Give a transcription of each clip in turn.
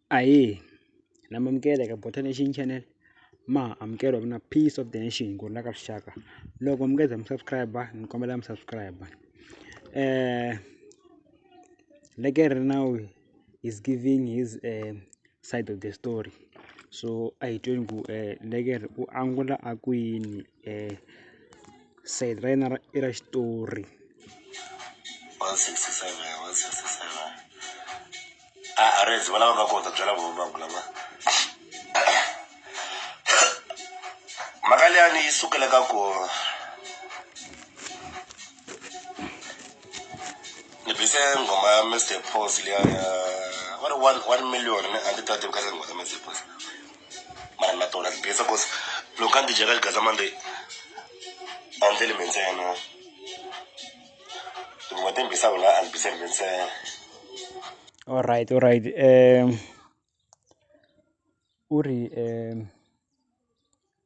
Ahee na mi amukela eka Botha Nation channel ma amukela ku na peace of the nation ku rhula ka rixaka loko mi nga se za mi subscribe ni kombela mi subscribe leke ri now is giving his side of the story so a hi tweni ku leke ri u angula a kwini. sayiti ra yena ra i ra xitori mhaka liyani yi sukela ka ku ni bise nghoma ya Mister Post liya ya va ri one one million a ni ta tivi kahle nghoma ya Mister Post. mara na tona tibesa cause loko a ndzi dyeka xigaza mande a ndzi lime ntsena hikuva timbisa wena a ndzi bise lime ntsena all right all right um u ri um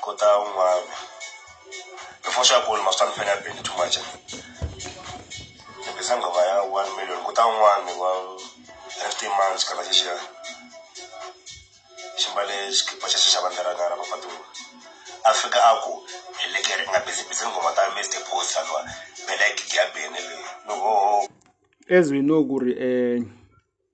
ko ta un'wana before xa bolo ma swi ta ni fela beni too much tirhisa nghoma ya one million ku ta un'wana wa fifteen months kana xexiya xi mbale xikipa xa xa vandla ra ngara vapatiwa a fika a ku hi lekere nga bizibizi nghoma ta mr post anwa bela gigi ya beni leyi no as we know ku ri um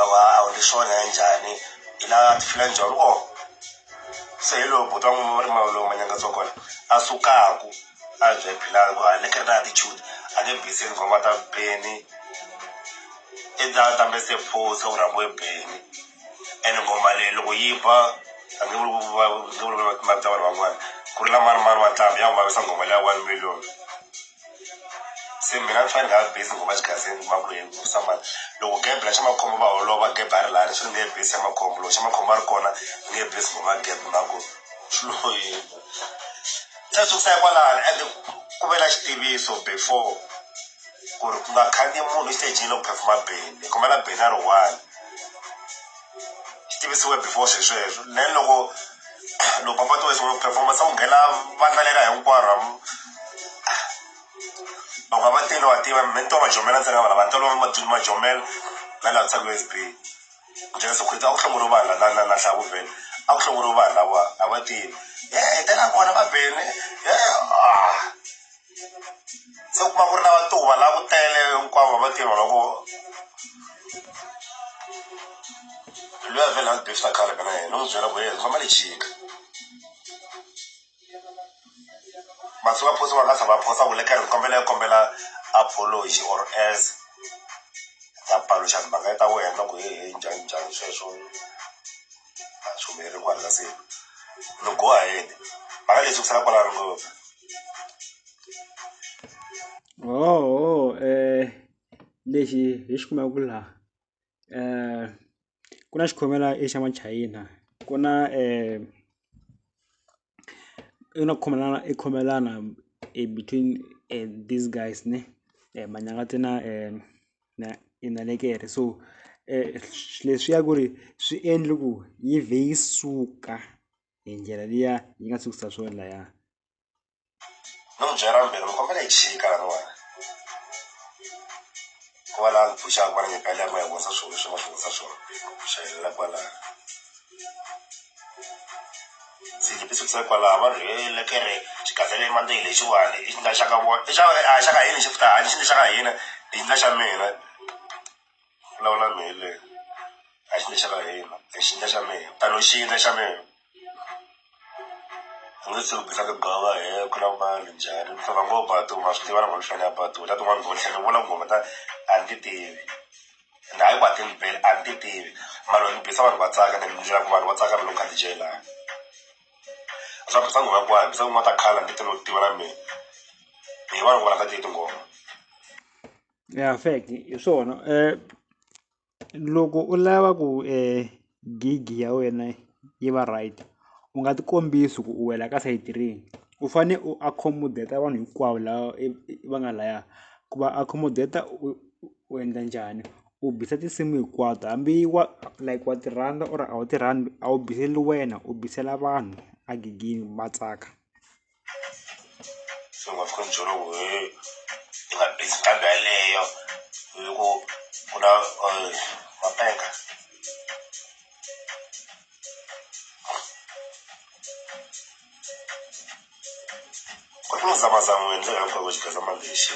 awa a wu leswiwani ya njhani i la tifile njhani o se hi lowu buti wa n'wina va ri mali lowu manyaka tsokolo a sukaku a bye philani ku a ni kha ni na tichudi a nge biseni ngoma ta beni i ta ta mi se phuza u rhambiwe beni ene ngoma leyi loko yi ba a nge vuli va nge vuli va timali ta vanhu van'wana ku ri la mani mani wa ntlhambhi ya n'wi vavisa ngoma leyi ya one million. se mina ni fanele ni nga va bizi ngopfu exigazengi ku va ku yini ku samba loko gebe la xa makhombo va holova gebe a ri laha leswi ni nge bizi xa makhombo loko xa makhombo a ri kona ni nge bizi ngopfu a gebe mhaka ku swi lo yini se swi sukisa kwalano ende ku ve na xitiviso before ku ri ku nga khandziya munhu exitejini loko phefoma beni hi khomela beni a ri one. xi tivisiwe before swi sweswo then loko loko va fatiwa xin'we performance a ku nghena vandla lera hinkwaro hamu loko a va tele wa tiva mi ni to va jomela ntsena vana va tolo madini ma jomela na laha tshaku S_B ku dyela swakudya a ku hlongoriwi vanhu la la la hlaku vhele a ku hlongoriwi vanhu lava a va tivi hi tela kona va bele . se u kuma ku ri na vatuva la ku tele hinkwavo va tiva loko luya vhele a befta khale ka na yena u n'wi byela ku yena famba lechika masi va phosa va nga tlha va phosa ku le ka ri kombela kombela apology or as ta paluxa timhaka ta wena ku he he njhani njhani sweswo a swi humeleli kwala ka se no go ahead mhaka leyi sukisela kwala ri ngopfu lexi hi xi kumaka ku laha ku na xikhomela i xa machayina ku na i na ku khomelana i khomelana i between these guys ne Manyangathi na na Nal'ekere so leswiya ku ri swi endle ku yi vhe yi suka. hi ndlela liya yi nga sukisa swo laya no mu byela mbhele mi kombela hi chika laniwani ku va laha ni pfuxaka va ni nyika liya ma hi vonisa swilo leswi ma swi vonisa swona ku xayelela kwalaho ndzi ti sukisa kwalaho va ri he le kere xigazele mandeyi lexiwani i xi nga xaka vona i xa a xaka hina xi futa hani xi ni xaka hina hi nga xa mina vulavula mi hi leyi a xintu xa ka hina i xintu xa mina tano xintu xa mina u nge se vutisa ku bava he ku na mali njhani ni famba ngo batu ma swi tiva na ku ni fanele a batu ta tin'wana ndhawu ni tlhela ni vula ngoma ta a ni ti tivi and hayi ku a ti ni beli a ni ti tivi mara ni bisa vanhu va tsaka ni endlela ku vanhu va tsaka na loko ni kha ni dyile laha a swi fambisa ngoma hinkwayo bisa tin'wana ta khale a ni ti no tiva na mina hi vanhu va rhandza ti tinghoma. Ya fact hi swona loko u lava ku gig ya wena yi va right u nga ti kombisa ku u wela ka side rihi u fane u accommodate vanhu hinkwavo lava va nga laya ku va accommodate u endla njhani u bisa tinsimu hinkwato hambi wa like wa ti rhandza or a wu ti rhandzi a wu biseli wena u bisela vanhu a gigini va tsaka. so nga fika ni byela ku he ni nga busy kambe yaleyo hi ku ku na mapenga ku ri ku ni zamazama ku endleka hinkwavo xigazamalexi.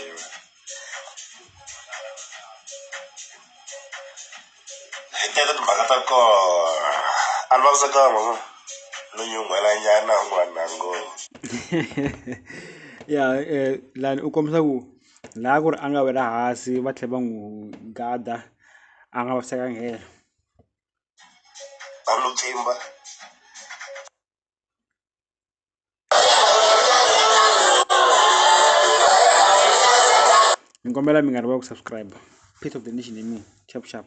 hi teka timhaka ta kona a ni vavisekanga no nyunghwela nyana n'wana ngo ya eh, lani u kombisa ku laha ku ri a nga wela hansi va tlhela va n'wi gada a nga vavisekanga hela a lo pfimba ni kombela mi nga rivali ku subscribe pieces of the nation i mean sharp sharp.